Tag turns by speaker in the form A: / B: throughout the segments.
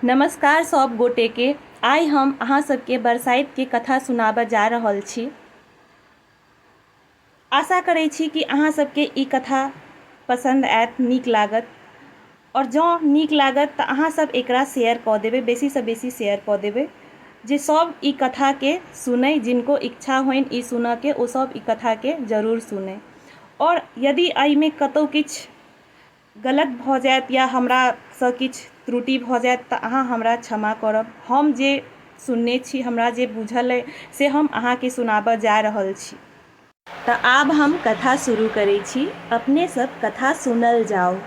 A: नमस्कार सब गोटे के आइ हम अहाँ सबके बरसाइत के कथा सुनाबऽ जा रहल छी आशा करै छी कि अहाँ सबके ई कथा पसन्द आयत नीक लागत और जँ नीक लागत तऽ अहाँ सब एकरा शेयर कऽ देबै बेसी सँ बेसी शेयर कऽ देबै जे सब ई कथा के सुनै जिनको इच्छा होइन ई सुनऽ के ओ सब ई कथा के जरूर सुनै और यदि एहिमे कतौ किछु गलत भऽ जायत या हमरासँ किछु त्रुटि भऽ जायत तऽ अहाँ हमरा क्षमा करब हम जे सुनने छी हमरा जे बुझल अइ से हम अहाँकेँ सुनाबऽ जा रहल छी तऽ आब हम कथा शुरू करै छी अपने सभ कथा सुनल जाउ।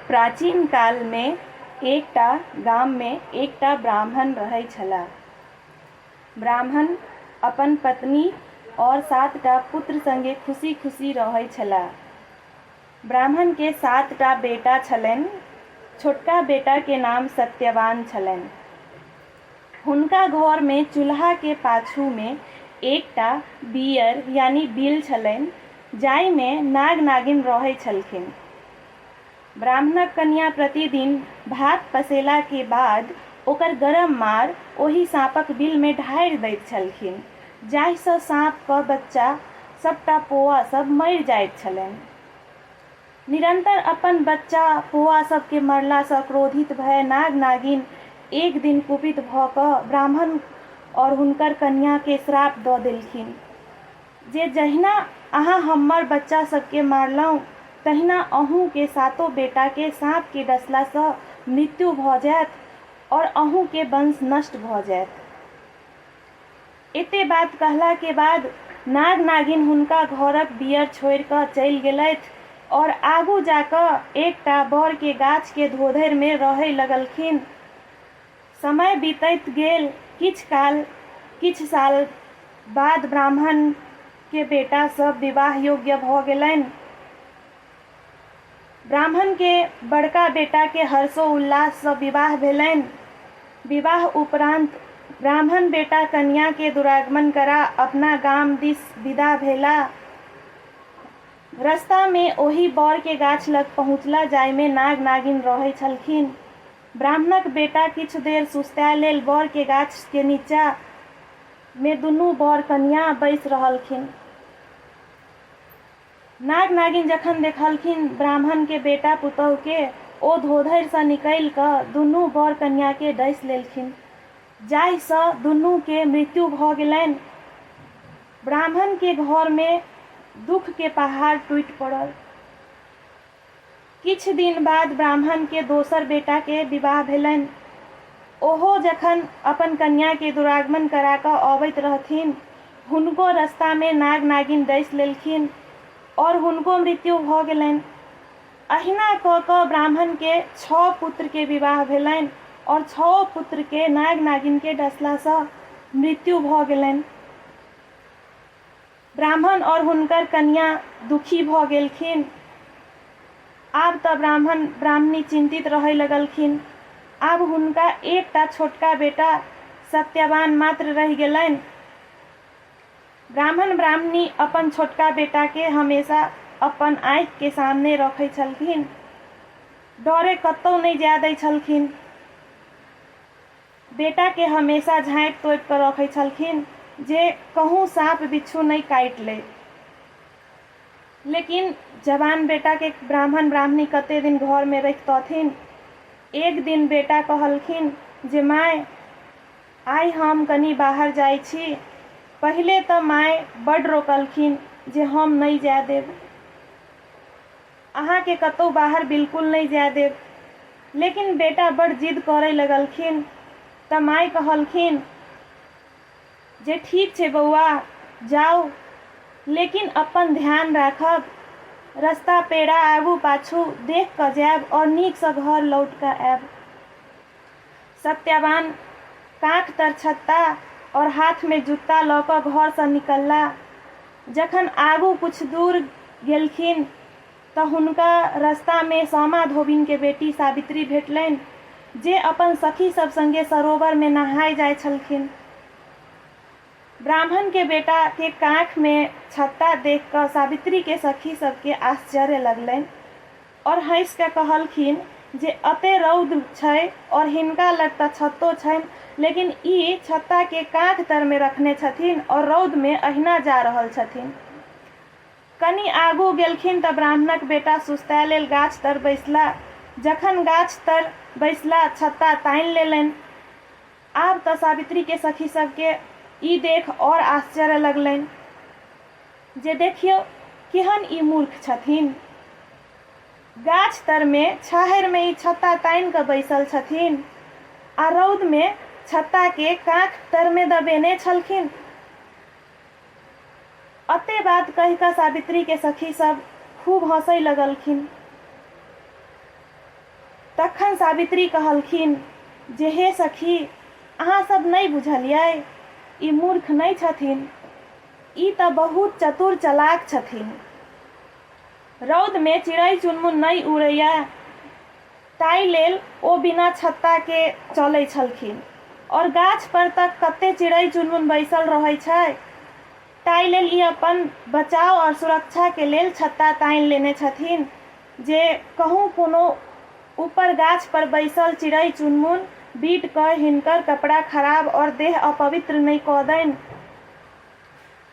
A: प्राचीन कालमे एकटा गाममे एकटा ब्राह्मण रहै छलाह। ब्राह्मण अपन पत्नी और सात टा पुत्र संगे खुशी-खुशी रहै छला। ब्राह्मण के सात टा बेटा छलैन। छोटका बेटा के नाम सत्यवान छलैन। हुनका घर मे चूल्हा के पाछू मे एक टा बीयर यानी बिल छलैन जाहि मे नाग-नागिन रहै छलखिन। ब्राह्मणक कनियाँ प्रतिदिन भात पसेला के बाद ओकर गरम मार ओहि साँपक बिल मे ढारि दैत छलखिन जाहि सँ साँप क बच्चा सबटा पोआ सब मरि जाइत छलनि। निरंतर अपन बच्चा पोआ सब के मरला सँ क्रोधित भए नाग नागिन एक दिन कुपित भ क ब्राह्मण और हुनकर कनियाँ के श्राप द देलखिन। जे जहिना अहाँ हम्मर बच्चा सब केँ मारलहुँ तहिना अहूँ केँ सातो बेटा केँ साँप केँ डसला सँ मृत्यु भऽ जायत और अहूँ केँ वंश नष्ट भऽ जायत। एते बात कहला केँ बाद नाग-नागिन हुनका घरक बीयर छोड़ि कऽ चलि गेलथि और आगू जा कऽ एकटा बड़ केँ गाछ केँ धोधरि मे रहय लगलखिन। समय बीतैत गेल। किछ काल, किछ साल बाद ब्राह्मण के बेटा सब विवाह योग्य भ गेलैन। ब्राह्मण के बड़का बेटा के हर्षो उल्लास स विवाह भेलैन। विवाह उपरान्त ब्राह्मण बेटा कनिया के दुरागमन करा अपना गाम दिस विदा भेला। रस्ता मे ओहि बौर के गाछ लग पहुँचला जाहि मे नाग-नागिन रहै छलखिन। ब्राह्मणक बेटा किछु देर सुस्ताए लेल बर के गाछ के नीचा मे दुनू बर कनियाँ बैस रहलखिन। नाग नागिन जखन देखलखिन ब्राह्मण के बेटा पुतहु के ओ धोधरि सँ निकलि क दुनू बर कनियाँ के डसि लेलखिन। जाहि सँ दुनू के मृत्यु भ गेलनि। ब्राह्मण के घर मे दुःख के पहाड़ टूटि पड़ल। किछु दिन बाद ब्राह्मण के दोसर बेटा के विवाह भेलनि। ओहो जखन अपन कन्या के दुरागमन करा कऽ अबैत रहथिन हुनको रस्ता मे नाग-नागिन डसि लेलखिन और हुनको मृत्यु भऽ गेलनि। अहिना कऽ कऽ ब्राह्मण के छओ पुत्र के विवाह भेलनि और छओ पुत्र के नाग-नागिन के डसला सँ मृत्यु भऽ गेलनि। ब्राह्मण और हुनकर कनियाँ दुखी भऽ गेलखिन। आब तऽ ब्राह्मण ब्राह्मणी चिन्तित रहय लगलखिन। आब हुनका एक टा छोटका बेटा सत्यवान मात्र रहि गेलैन। ब्राह्मण ब्राह्मणी अपन छोटका बेटा के हमेशा अपन आँखि के सामने रखै छलखिन। डरे कतौ नै जाय दै छलखिन। बेटाकेँ हमेशा झाँपि-तोपि कऽ रखैत छलखिन जे कहूँ साँप-बिच्छू नहि काटि लए। लेकिन जवान बेटाकेँ ब्राह्मण-ब्राह्मणी कते दिन घरमे रखितथिन। एक दिन बेटा कहलखिन जे माय, आइ हम कनी बाहर जाइत छी। पहिले तँ माय बड्ड रोकलखिन जे हम नहि जाए देब। अहाँकेँ कतहु बाहर बिलकुल नहि जाए देब। लेकिन बेटा बड़ जिद करए लगलखिन तँ माए कहलखिन जे ठीक छै बौआ, जाउ। लेकिन अपन ध्यान राखब। रस्ता पेड़ा आगू-पाछू देख कऽ जाएब और नीकसँ घर लौट कऽ आएब। सत्यवान काँख तर छत्ता और हाथ में जूता लऽ कऽ घर सँ निकलला। जखन आगू किछु दूर गेलखिन तऽ हुनका रस्ता में सामा धोबिन के बेटी सावित्री भेटलैन जे अपन सखी सब संगे सरोवर में नहाय जाय छलखिन। ब्राह्मण के बेटा के काँख में छत्ता देख कऽ सावित्री के सखी सब के आश्चर्य लगलैन। और हँसि कए कहलखिन जे अते रौद छै और हिनका लग त छत्तो छनि लेकिन ई छत्ता के काँख तर मे रखने छथिन और रौद मे अहिना जा रहल छथिन। कनि आगू गेलखिन त ब्राह्मणक बेटा सुस्ताए लेल गाछ तर बैसला। जखन गाछ तर बैसला छत्ता तानि लेलनि। आब तँ सावित्री के सखी सब के ई देख और आश्चर्य लगलैन जे देखियो केहन ई मूर्ख छथिन। गाछ तर मे छाहैर मे ई छत्ता तानि कऽ बैसल छथिन आ रौद मे छत्ता के काँख तर मे दबेने छलखिन। अत्ते बात कहि कऽ सावित्री के सखी सब खूब हँसै लगलखिन। तखन सावित्री कहलखिन जे हे सखी, अहाँ सब नै बुझलियै? ई मूर्ख नै छथिन। ई तऽ बहुत चतुर चलाक छथिन। रौद में चिड़ै-चुनमुन नै उड़ैए। ताहि लेल ओ बिना छत्ता के चलै छलखिन। और गाछ पर त कत्ते चिड़ई चुनमुन बैसल रहै छै। ताहि लेल ई अपन बचाव और सुरक्षा के लेल छत्ता तानि लेने छथिन जे कहूँ कोनो ऊपर गाछ पर बैसल चिड़ई चुनमुन बीट कय हिनकर कपड़ा खराब और देह अपवित्र नहि क दनि।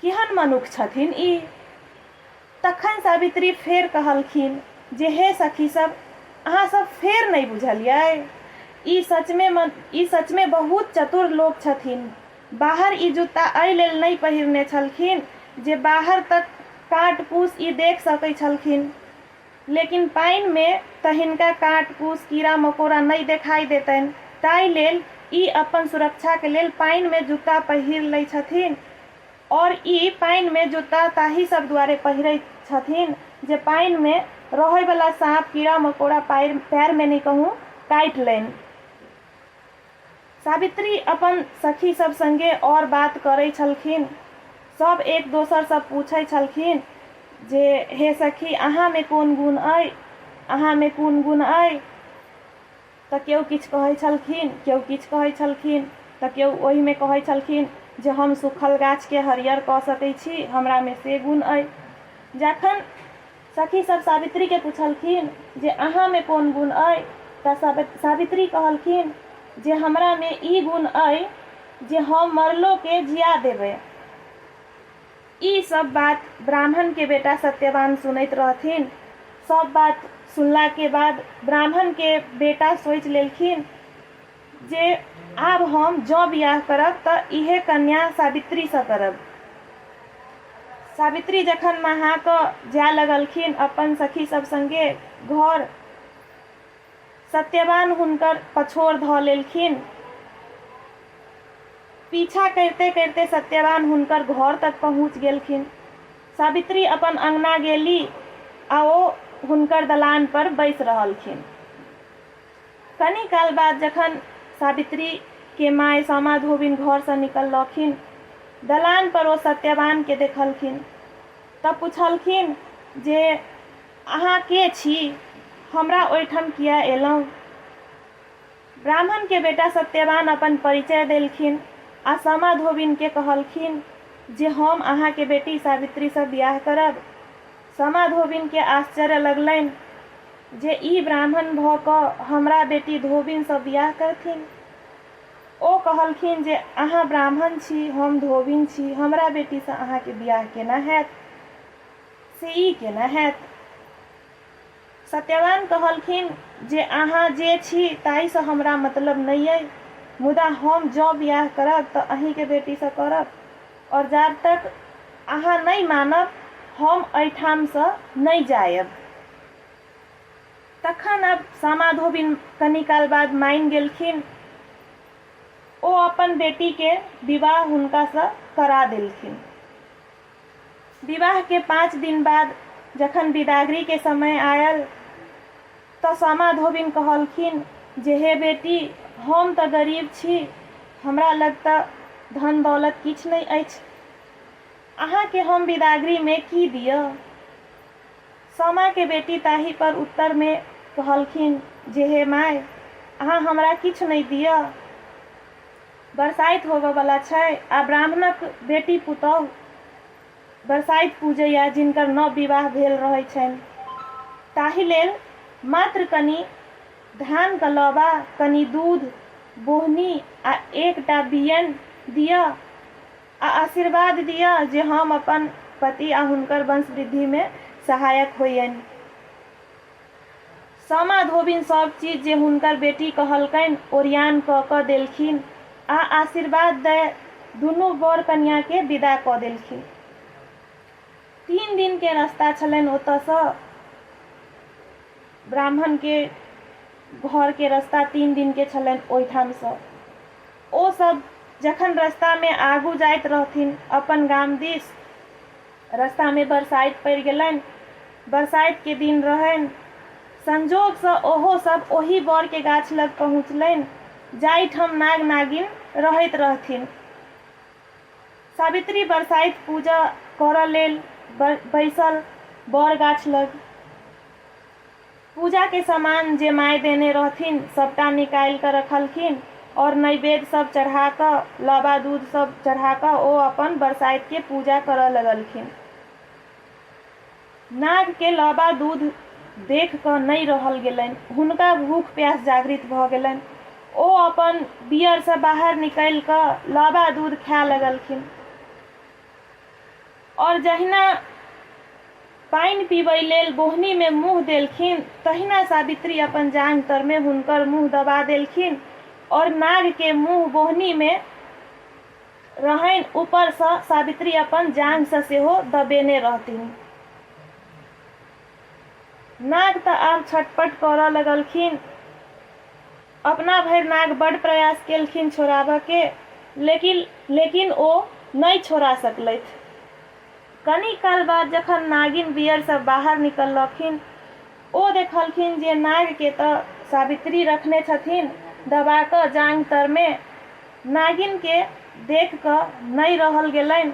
A: केहन मनुख छथिन ई? तखन सावित्री फेर कहलखिन जे हे सखी सभ, अहाँ सभ फेर नहि बुझलियै? ई सचमे ई सचमे बहुत चतुर लोक छथिन। बाहर ई जूता एहि लेल नहि पहिरने छलखिन जे बाहर तक काँट-कूस ई देख सकैत छलखिन। लेकिन पाइन मे त हिनका काँट-कुस, कीड़ा-मकोड़ा नइ देखाइ देतइन। ताइ लेल ई अप्पन सुरक्षा के लेल पाइन मे जूता पहिर लइ छथिन। और ई पाइन मे जूता ताहि सब दुआरे पहिरइ छथिन जे पाइन मे रहइ बला साँप, कीड़ा-मकोड़ा पाइर, पैर मे नइ कहूँ, काइट लइन। सावित्री अपन सखी सब संगे और बात करै छलखिन। सब एक दोसर सँ पूछै छलखिन जे हे सखी अहाँ मे कोन गुण अइ? अहाँ मे कोन गुण अइ? त केओ किछु कहै छलखिन, केओ किछु कहै छलखिन त केओ ओहि मे कहै छलखिन जे हम सूखल गाछ केँ हरियर क सकै छी, हमरा मे से गुण अइ। जखन। सखी सभ सावित्री केँ पुछलखिन जे अहाँ मे कोन गुण अइ तँ सावित्री कहलखिन जे हमरा मे ई गुण अइ जे हम मरलो केँ जिया देबै। ई सभ बात ब्राह्मण केँ बेटा सत्यवान सुनैत रहथिन। सभ बात सुनला केँ बाद ब्राह्मण केँ बेटा सोचि लेलखिन जे आब हम जँ बिआह करब तँ इएह कन्या सावित्रीसँ करब। सावित्री जखन नहा कऽ जाए लगलखिन अपन सखी सभ संगे घर, सत्यवान हुनकर पछोर धऽ लेलखिन। पीछा करिते-करिते सत्यवान हुनकर घर तक पहुँच गेलखिन। सावित्री अपन अंगना गेली आ ओ हुनकर दलानपर बैस रहलखिन। कनी काल बाद जखन सावित्री के माय सामा धोबिन घर सँ निकललखिन, दलान पर ओ सत्यवान के देखलखिन त पुछलखिन जे अहाँ के छी? हमरा ओहिठाम किए एलहुँ? ब्राह्मण के बेटा सत्यवान अपन परिचय देलखिन आ सामा धोबिन के कहलखिन जे हम अहाँ के बेटी सावित्री सँ बिआह करब। समा धोबिनकेँ आश्चर्य लगलैन जे ई ब्राह्मण भऽ कऽ हमरा बेटी धोबिनसँ बिआह करथिन। ओ कहलखिन जे अहाँ ब्राह्मण छी, हम धोबिन छी, हमरा बेटीसँ अहाँकेँ बिआह केना हएत? से ई केना हएत? सत्यवान कहलखिन जे अहाँ जे छी ताहिसँ हमरा मतलब नहि अइ मुदा हम जँ बिआह करब तँ अहींके बेटीसँ करब और जाब तक अहाँ नहि मानब हम अइठामसँ नहि जाएब। तखन आब सामा-धोबिन कनी काल बाद मानि गेलखिन। ओ अपन बेटीके विवाह हुनकासँ करा देलखिन। विवाह के पाँच दिन बाद जखन बिदागरी के समय आयल तऽ सामा धोबिन कहलखिन जे हे बेटी, हम तऽ गरीब छी, हमरा लग तऽ धन-दौलत किछु नहि अछि। अहाँ के हम बिदागरी में की दियऽ? सामा के बेटी ताहि पर उत्तर में कहलखिन जे हे माय, अहाँ हमरा किछु नहि दियऽ। बरसाइत होबय बला छै आ ब्राह्मणक बेटी पुतौह बरसाइत पूजैए जिनकर नव विवाह भेल रहैत छनि। ताहि लेल मात्र कनि धानक लौबा, कनि दूध, बोहनी आ एकटा बियैन दिअ आ आशीर्वाद दिअ जे हम अपन पति आ हुनकर वंशवृद्धिमे सहायक होइयनि। सामा धोबिन सभ चीज जे हुनकर बेटी कहलकनि ओरियान कऽ कऽ देलखिन आ आशीर्वाद दए दुनू वर कनियाँ केँ विदा कऽ देलखिन। तीन दिन केँ रस्ता छलनि ओतय सँ ब्राह्मण केँ घर केँ रस्ता तीन दिन केँ छलनि ओहिठाम सँ। ओ सभ जखन रस्ता मे आगू जाइत रहथिन अपन गाम दिस रस्तामे बरसाइत पड़ि गेलनि। बरसाइतके दिन रहनि। संजोगसँ ओहो सभ ओही बरके गाछ लग पहुँचलनि जाहिठाम नाग-नागिन रहैत रहथिन। सावित्री बरसाइत पूजा करऽ लेल बैसल बर गाछ लग। पूजा के सामान जे माय देने रहथिन सबटा निकालि कऽ रखलखिन और नैवेद्य सब चढ़ा कऽ, लाबा दूध सब चढ़ा कऽ ओ अपन बरसाइत के पूजा करऽ लगलखिन। नाग के लाबा दूध देख कऽ नहि रहल गेलनि। हुनका भूख प्यास जागृत भऽ गेलनि। ओ अपन बियर सँ बाहर निकलि कऽ लाबा दूध खाय लगलखिन। और जहिना पानि पीबय लेल बोहनी मे मुँह देलखिन तहिना सावित्री अपन जांघ तर मे हुनकर मुँह दबा देलखिन और नाग के मुँह बोहनी मे रहनि ऊपर सँ सावित्री अपन जांघ सँ सेहो दबेने रहथिन। नाग त आब छटपट करय लगलखिन। अपना भरि नाग बड्ड प्रयास केलखिन छोड़ाबऽ के लेकिन लेकिन ओ नहि छोड़ा सकलथि। कनी काल बाद जखन नागिन बियर सँ बाहर निकललखिन ओ देखलखिन जे नाग के तऽ सावित्री रखने छथिन दबा कऽ जांघ तर मे। नागिन के देख कऽ नहि रहल गेलनि।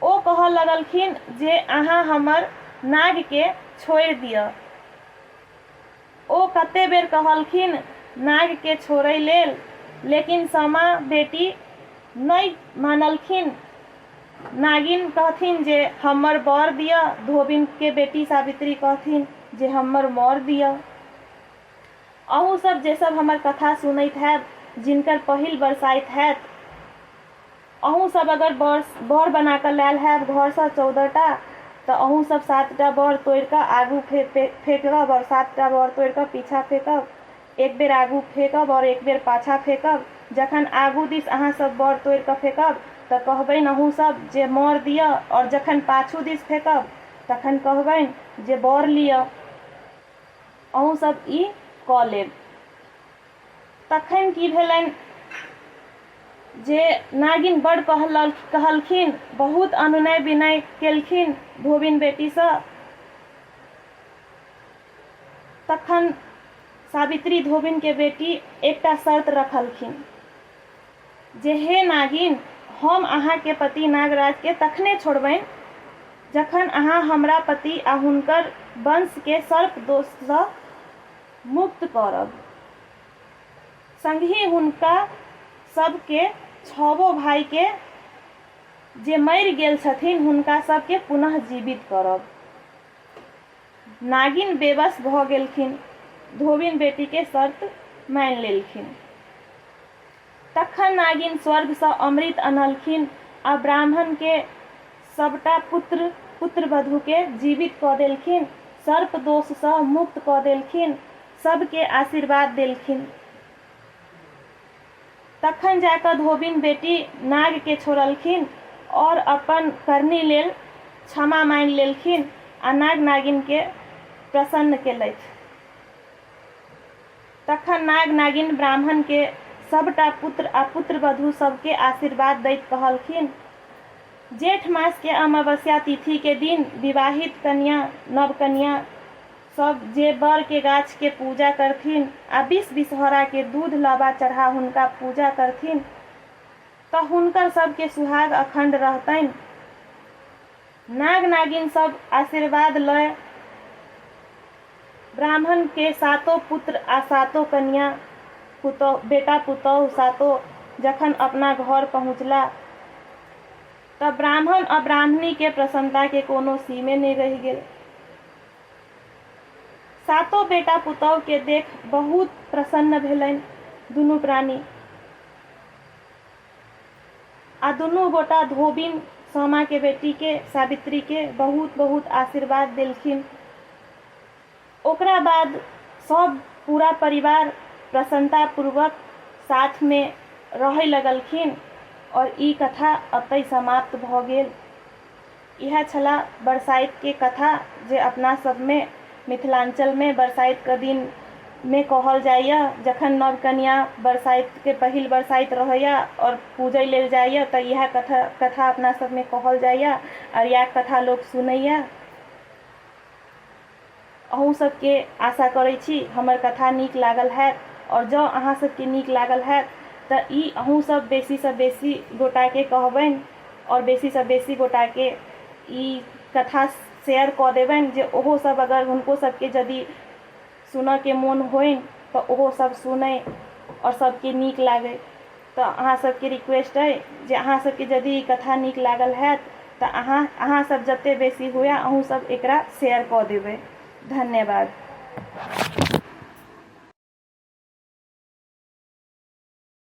A: ओ कहऽ लगलखिन जे अहाँ हमर नाग के छोड़ि दियऽ। ओ कते बेर कहलखिन नाग केँ छोड़य लेल लेकिन सामा बेटी नहि मानलखिन। नागिन कहथिन जे हम्मर बर दिअ। धोबिन केँ बेटी सावित्री कहथिन जे हम्मर मौर दिअ। अहूँ सब जेसब हमर कथा सुनैत हएब, जिनकर पहिल बरसाइत हएत। अहूँ सभ अगर बर बर बना कऽ लायल होयब घरसँ चौदह टा तऽ अहूँ सभ सात टा बर तोड़ि कऽ आगू फेर फे फेकब आओर सात टा बर तोड़ि कऽ पीछाँ फेकब एक बेर आगू फेकब आओर एक बेर पाछाँ फेकब जखन आगू दिस अहाँ सभ बर तोड़ि कऽ फेकब तऽ कहबनि अहूँ सभ जे मर दिअ आओर जखन पाछू दिस फेकब तखन कहबनि जे बर लिअ अहूँ सभ ई कऽ लेब तखैन की भेलनि जे नागिन बड़ कहल कहलखिन बहुत अनुनय विनय केलखिन धोबिन बेटीसँ तखन सावित्री धोबिनके बेटी एकटा शर्त रखलखिन जे हे नागिन हम अहाँके पति नागराजके तखने छोड़बनि जखन अहाँ हमरा पति आ हुनकर वंशके सर्प दोषसँ मुक्त करब। संगहि हुनका सब के छवो भाई के जे मरि गेल छथिन्ह हुनका सब के पुनः जीवित करब। नागिन बेबस भ गेलखिन्ह। धोबिन बेटी के शर्त मानि लेलखिन्ह। तखन नागिन स्वर्ग सँ अमृत अनलखिन आ ब्राह्मण के सभटा पुत्र, पुत्रवधू के जीवित क देलखिन, सर्प दोष सँ मुक्त क देलखिन, सभ के आशीर्वाद देलखिन। तखन जा क धोबिन बेटी नाग के छोड़लखिन और अपन करनी लेल क्षमा माँगि लेलखिन आ नाग-नागिन के प्रसन्न केलथि। तखन नाग-नागिन ब्राह्मणकेँ सभटा पुत्र आ पुत्रवधू सभकेँ आशीर्वाद दैत कहलखिन, जेठ मासके अमावस्या तिथिके दिन विवाहित कन्या, नवकन्या, सभ जे बरके गाछके पूजा करथिन आ बीस बिसहराके दूध लाबा चढ़ा हुनका पूजा करथिन तँ हुनकर सभके सुहाग अखण्ड रहतनि। नाग-नागिन सब आशीर्वाद लय ब्राह्मण के सातो पुत्र आ सातो कनिया, पुतौह, बेटा-पुतौह सातो जखन अपना घर पहुँचला त ब्राह्मण आ ब्राह्मणी के प्रसन्नता के कोनो सीमे नहि रहि गेल। सातो बेटा-पुतौह के देख बहुत प्रसन्न भेलनि दुनू प्राणी। आ दुनू गोटा धोबिन सामाके बेटीके सावित्रीके बहुत बहुत आशीर्वाद देलखिन। ओकरा बाद सब पूरा परिवार प्रसन्नतापूर्वक साथमे रहै लगलखिन आओर ई कथा अतै समाप्त भऽ गेल। इएह छला बरसाइत के कथा जे अपना सब मे मिथिलांचल मे बरसाइत क दिन मे कहल जाइय जखन नव कनिया बरसाइत के पहिल बरसाइत रहैय और पूजय लेल जाइय त इएह कथा अपना सब मे कहल जाइय अरियाक कथा लोक सुनैय। अहूँ सब के आशा करै छी हमर कथा नीक लागल हैत और जँ अहाँ सब के नीक लागल हैत त ई अहूँ सब बेसी सँ बेसी गोटा के कहबैन और बेसी सँ बेसी गोटा के ई कथा शेयर कऽ देबैन जे ओहो सब अगर हुनको सब के जदि सुनऽ के मोन होइन त ओहो सब सुनै और सब के नीक लागै। तँ अहाँ सभकेँ रिक्वेस्ट अइ जे अहाँ सभकेँ जदि ई कथा नीक लागल होयत तँ अहाँ अहाँ सभ जतेक बेसी हुए अहूँ सभ एकरा शेयर कऽ देबै। धन्यवाद।